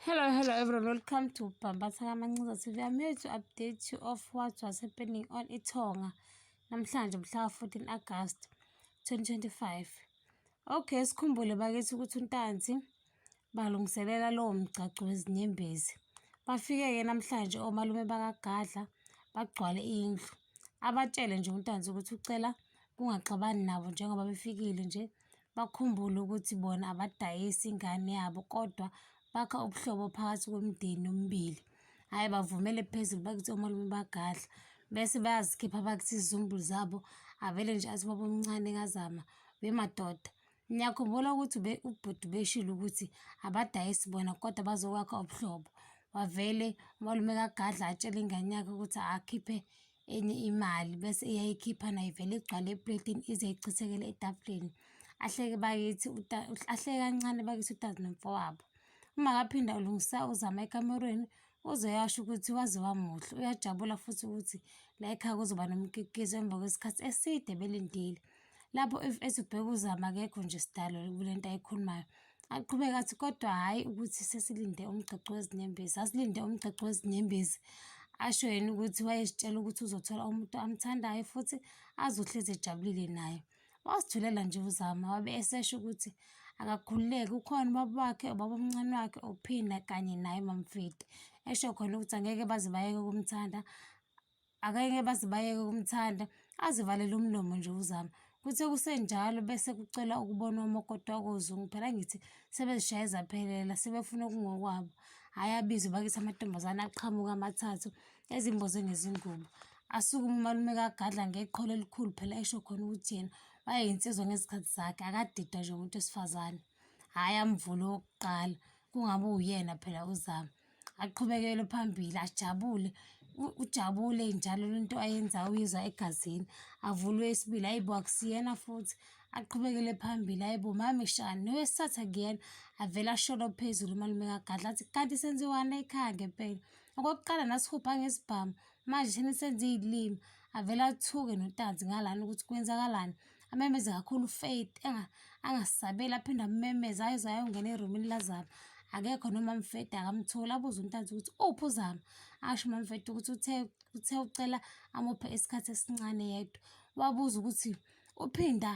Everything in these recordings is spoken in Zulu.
Hello, hello everyone. Welcome to Bambasa Kamancinza TV. I'm here to update you of what was happening on Itonga namhlanje mhla 14 August 2025. Okay, sikhumbule bakithi ukuthi uNtanzi balungiselela lowo mgcagco wezinyembezi. Bafike-ke namhlanje omalume bakaGadla bagcwale indlu. Abatshele nje uNtanzi ukuthi ucela kungaxabani nabo njengoba befikile nje bakhumbule ukuthi bona abadayisi ingane yabo kodwa bakha ubuhlobo phakathi kwemindeni yomibili. Hhayi bavumele phezulu bakithi omalume bagadla bese bayazikhipha bakithi izizumbulu zabo avele nje athi baba omncane kazama bemadoda Ngiyakhumbula ukuthi ubhuti beshilo ukuthi abadayisi bona kodwa bazokwakha ubuhlobo. Wavele umalume kaGadla atshele ingane yakhe ukuthi akhiphe enye imali bese iyayikhipha nayo ivele igcwale epletini ize ichithekele etafuleni ahleke bakithi ahleke kancane bakithi utazi nomfowabo uma kaphinda ulungisa uzama ekamerweni uzoyasho ukuthi waze wamuhle uyajabula futhi ukuthi la ekhaya kuzoba nomkikizo emva kwesikhathi eside belindile lapho if ezobheka uzama akekho nje sidalo kule nto ayikhulumayo Aqhubeka athi kodwa hhayi ukuthi sesilinde umgcagco wezinyembezi, asilinde umgcagco wezinyembezi asho yena ukuthi wayezitshela ukuthi uzothola umuntu amthandayo futhi azohlezi ejabulile naye. Wasithulela nje uZama wabe esesho ukuthi akakhululeke ukhona ubaba wakhe, ubaba omncane wakhe, uPhina kanye naye uMamfidi. Esho khona ukuthi angeke baze bayeke ukumthanda Akeke baze bayeke ukumthanda, azivalele umlomo nje uZama. Kuthe kusenjalo bese kucela ukubona omakoti wakoZungu. Phela ngithi sebezishaye zaphelela, sebefuna okungokwabo. Hhayi abizwe bakithi amantombazane aqhamuka amathathu ezimboze ngezingubo. Asukume umalume kaGadla ngeqholo elikhulu phela esho khona ukuthi yena wayeyinsizwa ngezikhathi zakhe, akadidwa nje umuntu wesifazane. Hhayi amvule owokuqala, kungabe uyena phela uZama. aqhubekele phambili ajabule ujabule njalo lento ayenzayo uyizwa egazini avulwe isibili ayibo akusiyena futhi aqhubekele phambili ayibo mami shani nowesithatha kuyena avele asholo phezulu umalume kagadla athi kanti senziwani ekhaya ngempela okokuqala nasihubha ngesibhamu manje shini senze iy'limi avele athuke notanzi ngalana ukuthi kwenzakalani amemeze kakhulu ufaith angasabeli aphinde amemeze ayoze ayongena erumini lazama akekho noma mfeda akamtholi abuze untanzi ukuthi uphi uzama asho umamfeda ukuthi uthe uthe ucela amuphe isikhathi esincane yedwa wabuza ukuthi uphinda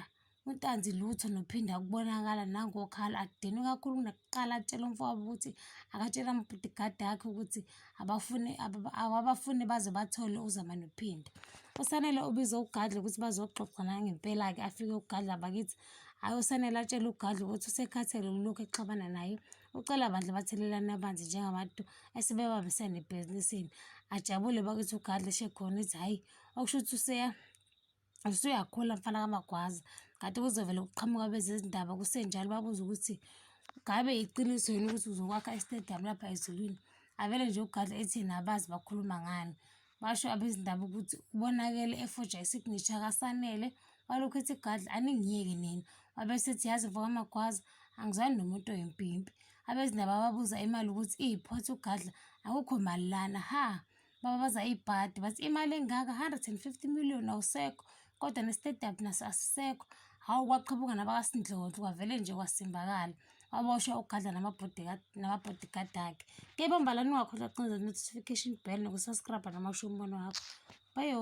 untanzi lutho nophinda kubonakala nangokhala akudeni kakhulu kunakuqala atshela umfowabo ukuthi akatshela amabhudigadi akhe ukuthi abafuni abafuni baze bathole uzama nophinda usanele ubize ugadle ukuthi bazoxoxa nangempela-ke afike ugadle abakithi hhayi usanele atshele ugadle ukuthi usekhathele ukulokhu exabana naye ucela bandla bathelelane abanzi njengabantu esebebambisene ebhizinisini ajabule bakithi ugadle shekhona ithi hhayi okusho ukuthi useya Usuyakhula mfana kamagwaza kade kuzovele kuqhamuka bezezindaba kusenjalo babuze ukuthi ngabe yiqiniso yini ukuthi uzokwakha istadium lapha ezulwini avele nje ugadla ethi nabazi bakhuluma ngani basho abezindaba ukuthi ubonakele efoja isignature kasanele walokhu ethi gadla aningiyeke nina wabesethi yazi mfo kamagwaza angizwani nomuntu oyimpimpi abezindaba babuza imali ukuthi iyiphothi ugadla akukho mali lana ha bababaza ibhadi bathi imali engaka 150 million awusekho kodwa nesitedap naso asisekho hawu kwaqhabuka nabakasindlondlo kwavele nje kwasimbakala waboshwa ugadla namabodyguard akhe kepha mbalani ungakhohlwa kucinza notification bell nokusubscribe namasho umbono wakho bayo